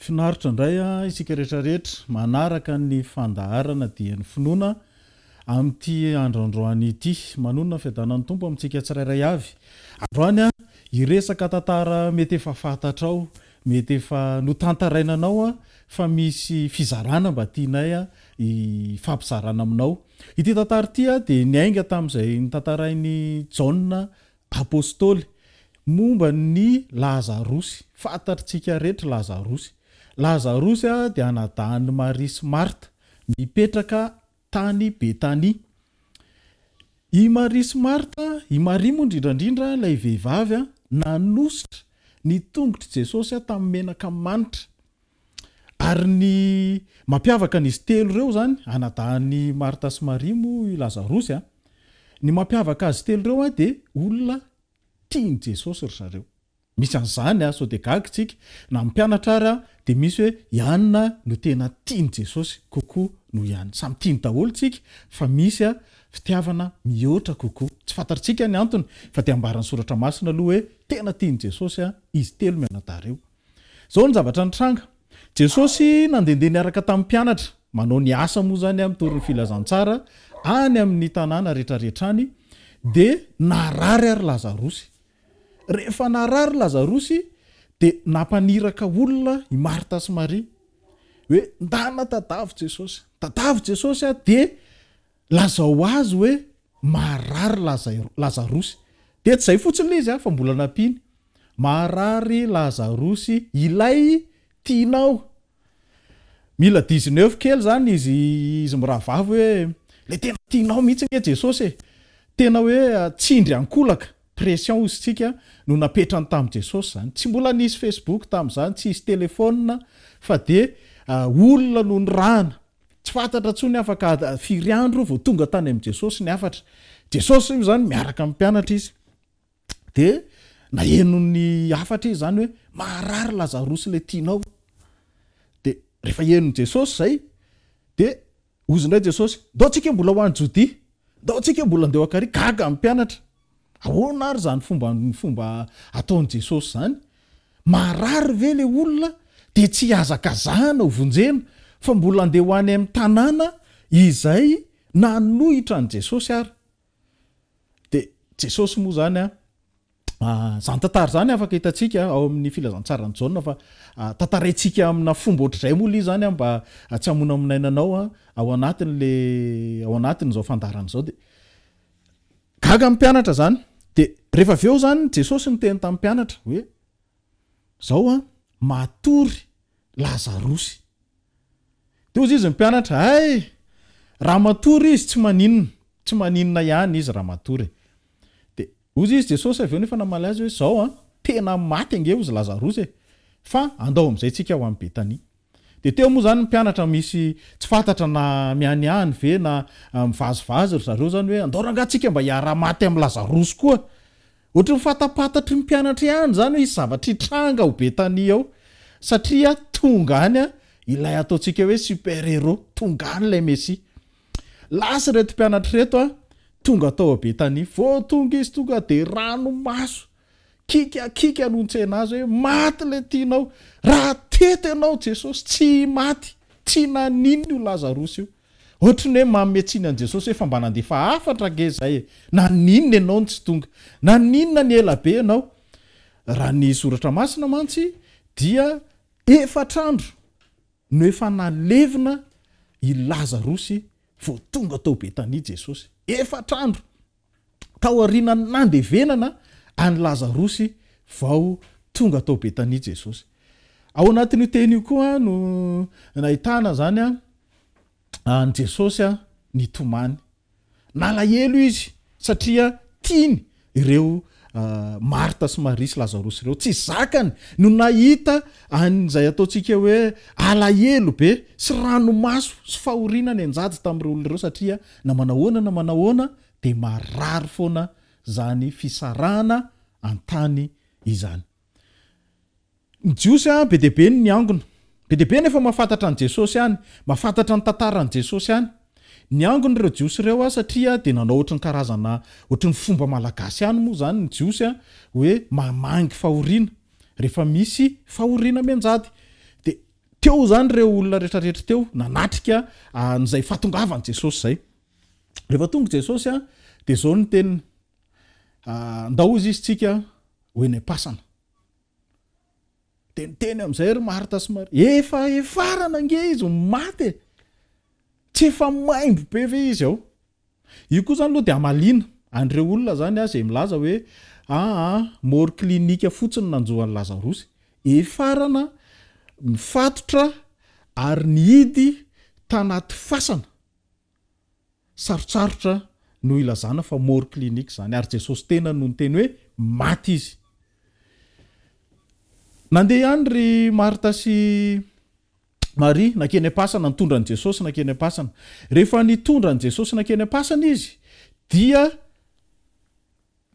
Finaritra indray isika rehetra rehetra manaraka ny fandaharana Dieny Finoana amin'ity andro androany ity. Manonona ny fiadanan'ny Tompo amintsika tsirairay avy. Androany hiresaka tantara mety efa fantatrao Mety efa notantaraina anao an fa misy fizarana mba tianay an hifampizarana aminao. Ity tantara ity an dia niainga tamin'izay notantarain'i Jaona Apostoly momba ny Lazarosy. Fantatr'tsika rehetra Lazarosy. Lazarosy an dia anadahin'i Maria sy Marta. Mipetraka tany Betania. I Maria sy Marta, i Maria moa indrindra indrindra ilay vehivavy, nanosotra ny tongotr'i Jesosy tamin'ny menaka manitra. Ary ny mampiavaka an'izy telo ireo izany, anadahin'i Marta sy Maria moa i Lazarosy a, ny mampiavaka azy telo ireo dia olona tian'i Jesosy ry zareo. Misy an'izany a, sao dia gaga tsika, na mpianatra ara dia misy hoe i anona no tena tian'i Jesosy kokoa noho i anona. Samy tiany daholo tsika fa misy a fitiavana mihoatra kokoa. Tsy fantatr'tsika ny antony fa dia ambaran'ny soratra masina aloha hoe tena tian'i Jesosy a izy telo mianadahy ireo. Zao ny zavatra nitranga, Jesosy nandendeha niaraka tamin'ny mpianatra, manao ny asa moa zany a mitory ny filazantsara any amin'ny tanàna retraretra any, dia narary ary Lazarosy. Rehefa narary Lazarosy dia nampaniraka olona i Marta sy Maria hoe ndana tadavo Jesosy, tadavo Jesosy a dia lazao azy hoe marary Lazarosy. Dia tsy izay fotsiny ilay izy a, fa mbola nampiany, marary Lazarosy ilay tianao. Mila dix neuf kely zany izy izy mirahavavy hoe le tena tianao mihitsy nge Jesosy e! Tena hoe tsindry ankolaka, pression hozy tsika no napetrany tam Jesosy zany. Tsy mbola nisy Facebook tam zany, tsy hisy telephone fa de olona no nirahana. Tsy fantatra tsony afaka firy andro vao tonga tany am Jesosy ny hafatra. Jesosy moa zany miaraka am pianatra izy. de nahenon'ny hafatra izy zany hoe maharary Lazarosy ilay tianao, de rehefa henon'i Jesosy zay de hozy indray Jesosy, ndao antsika mbola ho any Jodia, ndao antsika mbola ndao an-kariaka, gaga ny mpianatra, ahoana ary zany fomba fomba ataon'i Jesosy zany, maharary ve le olona de tsy hihazakazahana ho vonjena, fa mbola ndeha ho any amin'ny tanàna izay nanohitra an'i Jesosy ary, Dia Jesosy moa izany an, izany tantara izany afaka hitantsika ao amin'ny filazantsaran'i Jaona fa tantaraintsika amina fomba ohatr'izay moa ilay izany an, mba tsy hamonamonaina anao an, ao anatin'ilay ao anatin'izao fandaharana izao dia gaga ny mpianatra izany. Dia rehefa avy eo izany Jesosy niteny tamin'ny mpianatra hoe izao an, matory Lazarosy. Dia hozy izy ny mpianatra, hay! Raha matory izy tsy maninona, tsy maninona ihany izy raha matory. Dia hozy izy Jesosy avy eo nefa namaly azy hoe, izao an, tena maty ange hozy Lazarosa e! Fa andao amin'izay tsika ho any Betania. Dia teo moa izany ny mpianatra misy tsy fantatra na mianiany ve na mivazivazy ry zareo izany hoe, andao rangah tsika mba hiaraha-maty amin'i Lazarosy koa. Ohatry ny fantapantatry ny mpianatra ihany izany hoe hisy zavatra hitranga ao Betania ao, satria tonga any ilay ataontsika hoe super hero, tonga any ilay Mesia. Lasa ireto mpianatra ireto tonga tao Betania. Vao tonga izy tonga dia ranomaso, kika kika no nitsena azy hoe maty ilay tianao, raha teto ianao Jesosy tsy maty, tsy nanino io Lazarosy io. Ohatry ny hoe manome tsiny an'i Jesosy hoe fa mba nandefa hafatra ange izahay e! Naninona ianao no tsy tonga? Naninona ny ela be ianao? Raha ny Soratra Masina mantsy dia efatra andro no efa nalevina i Lazarosy vao tonga tao Betania Jesosy. Efatra andro! tao aorianan'ny nandevenana an'i Lazarosy vao tonga tao Betania Jesosy. Ao anatin'io teny io koa no nahitana izany an'i Jesosy nitomany. Nalahelo izy satria tiany ireo Marta sy Maria sy Lazarosy ireo, tsy zakany no nahita an'izay ataontsika hoe alahelo be sy ranomaso sy fahoriana nianjady tamin'ireo olona ireo satria na manahoana na manahoana dia marary foana izany fisarahana an-tany izany. Ny Jiosy an, be dia be ny niangona. Be dia be ny efa mahafantatra an'i Jesosy any, mahafantatra ny tantaran'i Jesosy any. Niangona ireo Jiosy ireo an, satria dia nanao ohatry ny karazana, ohatry ny fomba malagasy any moa izany ny Jiosy an, hoe mamangy fahoriana, rehefa misy fahoriana mianjady. Dia teo izany ireo olona rehetra rehetra teo, nanatrika an'izay fahatongavan'i Jesosy izay. Rehefa tonga i Jesosy an, dia izao ny teniny, Ndao izy izy tsika ho eny am-pasana. Dia niteny amin'izay ry Marta sy Maria, efa efarana ange izy ny maty e! Tsy efa maimbo be ve izy ao? Io koa izany aloha dia hamaliana an'ireo olona izany aho izay milaza hoe aa mort clinique fotsiny nanjo an'i Lazarosy. Efarana, mifatotra ary nihidy tanaty fasana. Sarotsarotra no ilazana fa mort clinique izany ary Jesosy tena no niteny hoe maty izy. Nandeha ihany ry Marta sy Maria nankeny am-pasana, nitondra an'i Jesosy nankeny am-pasana. Rehefa nitondra an'i Jesosy nankeny am-pasana izy dia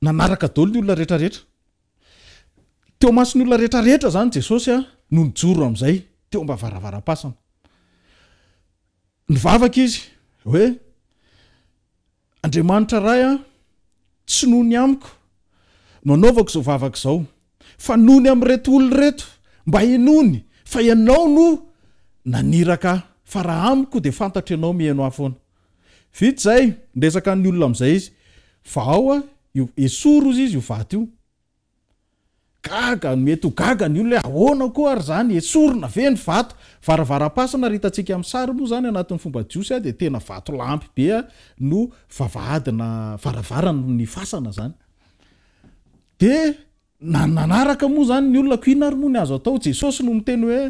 nanaraka daholo ny olona rehetra rehetra. Teo mason'ny olona rehetra rehetra izany Jesosy no nijoro amin'izay teo am-bavaravaram-pasana. Nivavaka izy, hoe, Andriamanitra Ray a, tsy noho ny amiko no anaovako izao vavaka izao, fa noho ny amin'ireto olona ireto, mba henoiny fa Ianao no naniraka ahy, fa raha amiko dia fantatro Ianao miheno ahy foana. Vita izay, niresaka amin'ny olona amin'izay izy, fa ao a, io, esory hozy izy io vato io, Gaga no mety ho gaga ny olona hoe ahoana koa ary izany, esorina ve ny vato? Varavaram-pasana raha hitantsika amin'ny sary moa izany anatin'ny fomba jiosy dia tena vatolampy be no vavahadina varavaran'ny fasana izany. Dia na ny nanaraka moa izany ny olona ko inona ary moa ny azo atao? Jesosy no miteny hoe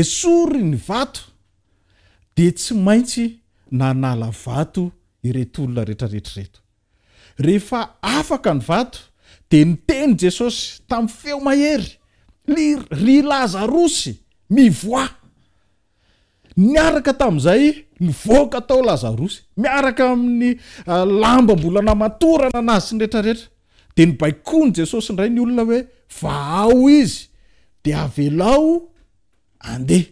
esory ny vato dia tsy maintsy nanala vato ireto olona rehetra rehetra ireto. Rehefa afaka ny vato, dia niteny Jesosy tamin'ny feo mahery, Ry Lazarosy, mivoaha! Niaraka tamin'izay, nivoaka tao Lazarosy, miaraka amin'ny lamba mbola namatorana anazy sy ny rehetrarehetra. Dia nibaikoan'i Jesosy indray ny olona hoe, Vahao izy, dia avelao handeha.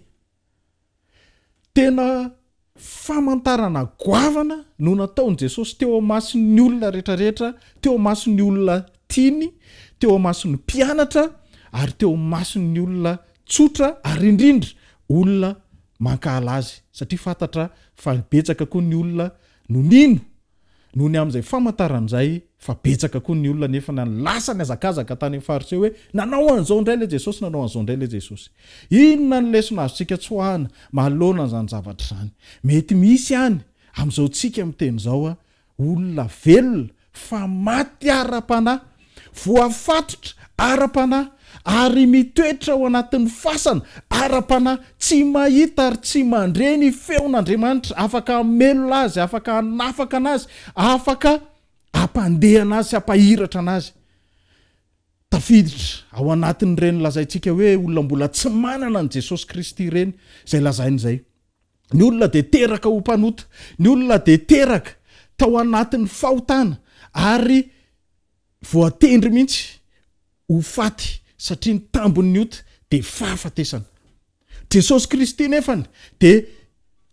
Tena famantarana goavana no nataon'i Jesosy teo imason'ny olona rehetrarehetra, teo imason'ny olona tiany, teo imason'ny mpianatra, ary teo imason'ny olona tsotra, ary indrindra olona mankahala azy, satria fantatra fa betsaka koa ny olona no nino Noho ny amin'izay famantarana izay fa betsaka koa ny olona nefa na ny lasa nihazakazaka tany amin'ny fariseo hoe, Nanao an'izao indray ilay Jesosy, nanao an'izao indray ilay Jesosy. Inona ny lesona azontsika tsoahana manoloana an'izany zavatra izany? Mety misy any amin'izao tsika miteny izao olona velona fa maty ara-panahy voafatotra ara-panahy, ary mitoetra ao anatin'ny fasana ara-panahy, tsy mahita ary tsy mandre ny feon'Andriamanitra, afaka hamelona azy, afaka hanafaka anazy, afaka hampandeha anazy sy hampahiratra anazy. Tafiditra ao anatin'ireny lazaintsika hoe olona mbola tsy manana an'i Jesosy Kristy ireny izay lazainy izay. Ny olona dia teraka ho mpanota, ny olona dia teraka tao anatin'ny fahotana ary Voatendry mihitsy ho faty satria ny tambin'ny ota dia fahafatesana. Jesosy Kristy nefany dia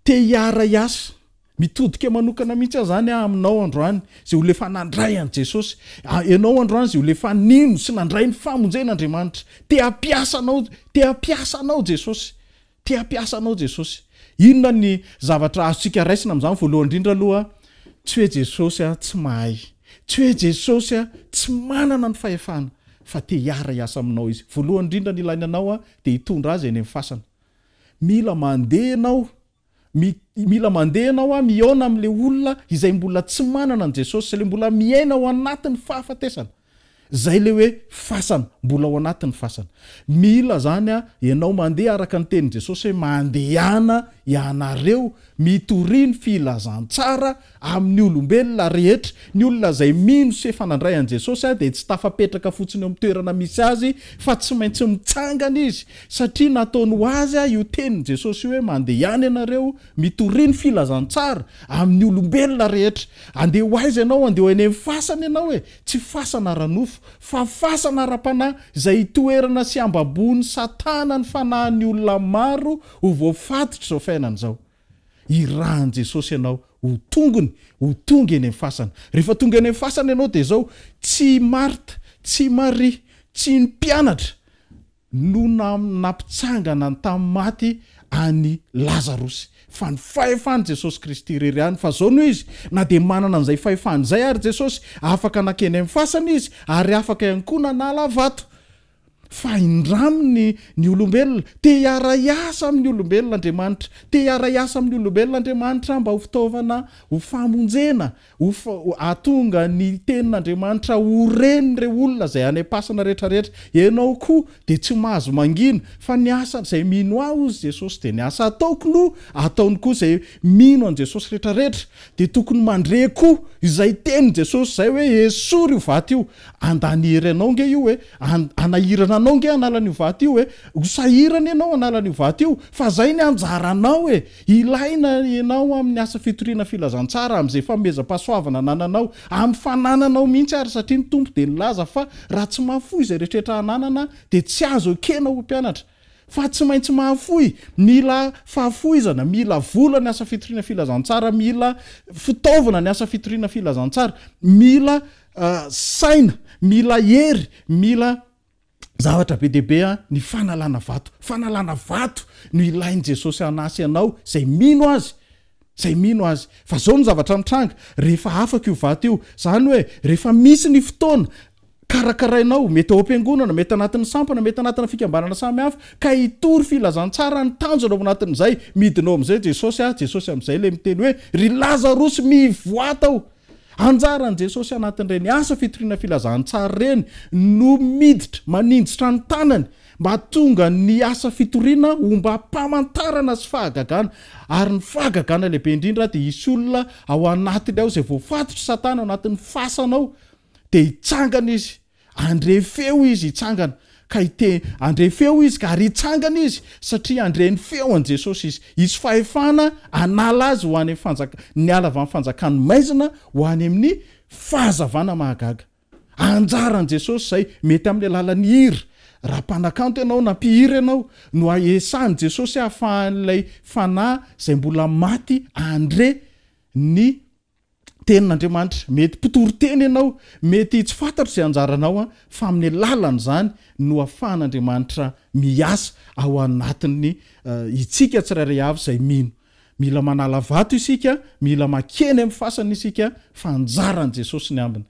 te hiara-hiasa, mitodika manokana mihitsy aza any aho aminao androany izay ho lefa nandray an'i Jesosy. Ianao androany izay ho lefa nino sy nandray ny famonjen'Andriamanitra. Te hampiasa anao, te hampiasa anao Jesosy. Te hampiasa anao Jesosy. Inona ny zavatra azontsika raisina amin'izany? Voalohany indrindra aloha, tsy hoe Jesosy tsy mahay, tsy hoe Jesosy tsy manana ny fahefana, fa te hiara-hiasa aminao Izy. Voalohany indrindra ny ilainy anao dia hitondra Azy eny amin'ny fasana. Mila mandeha ianao, mila mandeha ianao mihaona amin'ilay olona izay mbola tsy manana an'i Jesosy, ilay mbola miaina ao anatin'ny fahafatesana. Zay le hoe fasana, mbola ao anatin'ny fasana. Mila zany an, ianao mandeha araka ny tenin'i Jesosy hoe mandehana ianareo mitoria ny filazantsara amin'ny olombelona rehetra. Ny olona zay mino sy efa nandray an'i Jesosy an, dia tsy tafapetraka fotsiny eo amin'ny toerana misy azy fa tsy maintsy mitsangana izy satria nataony ho azy an io tenin'i Jesosy io hoe mandehana ianareo mitoria ny filazantsara amin'ny olombelona rehetra. Andeha ho aiza ianao? Andeha ho eny amin'ny fasana ianao e! Tsy fasana ara-nofo, fa fasana ara-panahy, izay itoerana sy ambabohon'i Satana ny fanahin'ny olona maro ho voafatotr'izao fiainana izao. Irahan'i Jesosy ianao ho tongony, ho tonga eny amin'ny fasana. Rehefa tonga eny amin'ny fasana ianao dia izao, tsy i Marta, tsy i Maria, tsy ny mpianatra, no nampitsangana tamin'ny maty an'i Lazarosy, fa ny fahefan'i Jesosy Kristy irery ihany. Fa izao no izy, na dia manana an'izay fahefana izay àry Jesosy, afaka nankeny amin'ny fasana izy, ary afaka ihany koa nanala vato. Fa hindraminy ny olombelona. Te hiara-hiasa amin'ny olombelona Andriamanitra. Te hiara-hiasa amin'ny olombelona Andriamanitra mba ho fitaovana ho famonjena. Uff ahatonga ny tenin'Andriamanitra ho ren'ireo olona izay any am-pasana rehetra rehetra. Ianao koa dia tsy mahazo mangina fa ny asa izay mino Ahy hozy Jesosy dia ny asa ataoko no ataony koa izay mino an'i Jesosy rehetra rehetra dia tokony mandre koa izay tenin'i Jesosy izay hoe esory io vato io andany hery anao nge io e anahirana anao nge an'alan'io vato io e ho sahirana ianao an'alan'io vato io fa izay ny anjaranao e Ilaina ianao amin'ny asa fitoriana filazantsara, amin'izay fanomezam-pahasoavana anananao, amin'ny fanananao mihitsy ary, satria ny Tompo dia nilaza fa raha tsy mahafoy izay rehetrarehetra hananana dia tsy azo ekena ho mpianatra. Fa tsy maintsy mahafoy, mila fahafoizana, mila vola ny asa fitoriana filazantsara, mila fitaovana ny asa fitoriana filazantsara, mila saina, mila hery, mila. Zavatra be dia be ny fanalana vato. Fanalana vato no ilain'i Jesosy hanasy anao izay mino Azy, izay mino Azy. Fa izao no zavatra mitranga, rehefa afaka io vato io, izany hoe rehefa misy ny fotoana, karakarainao, mety ao am-piangonana, mety anatin'ny sampana, mety anatina fikambanana samihafa, ka hitory filazantsara ny tanjona ao anatin'izay, midina ao amin'izay Jesosy, Jesosy amin'izay ilay miteny hoe, Ry Lazarosy, mivoaha ato! Anjaran'i Jesosy anatin'ireny asa fitoriana filazantsara ireny no miditra maninjitra ny tanany mba hahatonga ny asa fitoriana hombam-pamantarana sy fahagagana. Ary ny fahagagana lehibe indrindra dia hisy olona ao anatiny ao izay voafatotr'i Satana ao anatin'ny fasana ao dia hitsangana izy Handre feo izy hitsangana, ka hite, handre feo izy ka, ary hitsangana izy, satria handre ny feo an'i Jesosy izy. Hisy fahefana hanala azy ho any amin'ny fanjaka, niala avy amin'ny fanjakan'ny maizina ho any amin'ny fahazavana mahagaga. Anjaran'i Jesosy izay, mety amin'ny alalan'ny hira, raha mpanakanto ianao na mpihira ianao, no hahesahan'i Jesosy hahafahan'ilay fanahy izay mbola maty handre ny. Tenin'Andriamanitra. Mety mpitory teny ianao, mety tsy fantatro izay anjaranao an, fa amin'ny alalan'izany no ahafahan'Andriamanitra miasa ao anatin'ny itsika tsirairay avy izay mino. Mila manala vato isika, mila makeny amin'ny fasana isika fa anjaran'i Jesosy ny ambiny.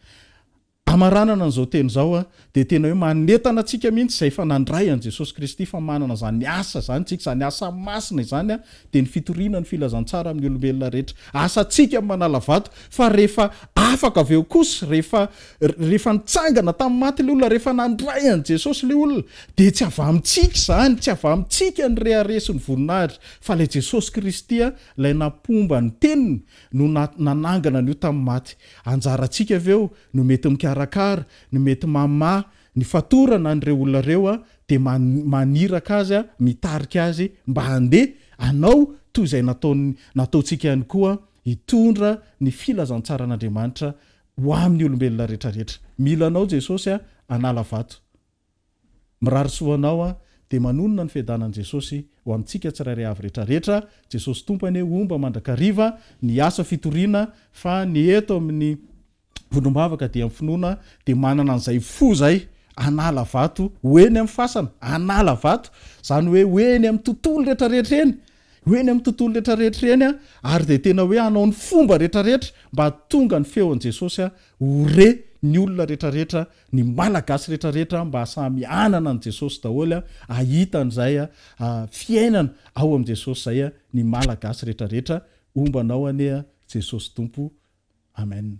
Hamaranana an'izao teny izao dia tena hoe manentana antsika mihitsy izay efa nandray an'i Jesosy Kristy fa manana izany asa izany isika, izany asa masina izany dia ny fitoriana ny filazantsara amin'ny olombelona rehetra. Asantsika ny manala vato fa rehefa afaka avy eo kosa, rehefa rehefa nitsangana tamin'ny maty ilay olona, rehefa nandray an'i Jesosy ilay olona dia tsy avy amintsika izany, tsy avy amintsika ny rehareha sy ny voninahitra fa ilay Jesosy Kristy ilay nampomba ny teniny no nanangana an'io tamin'ny maty. Anjarantsika ve eo no mety mikarakara, no mety mamaha ny fatorana an'ireo olona ireo dia maniraka azy, mitarika azy mba handeha hanao toy izay nataony, nataontsika ihany koa, hitondra ny filazantsaran'Andriamanitra ho amin'ny olombelona rehetrarehetra. Mila anao Jesosy a, hanala vato. Mirary soa anao aho dia manonona ny fiadanan'i Jesosy ho amintsika tsirairay avy rehetra rehetra Jesosy Tompo anie homba mandrakariva ny asa fitoriana fa ny eto amin'ny vondrom-bavaka dia ny finoana dia manana an'izay fo izay hanala vato ho eny amin'ny fasana hanala vato izany hoe ho eny amin'ny tontolo rehetra rehetra eny Ho eny amin'ny tontolo retraretra eny ary dia tena hoe hanao ny fomba retraretra mba hahatonga ny feon'i Jesosy ho re ny olona retraretra, ny Malagasy retraretra mba samy hanana an'i Jesosy daholo, hahita an'izay fiainana ao amin'i Jesosy izay ny Malagasy retraretra. Homba anao anie Jesosy Tompo. Amen.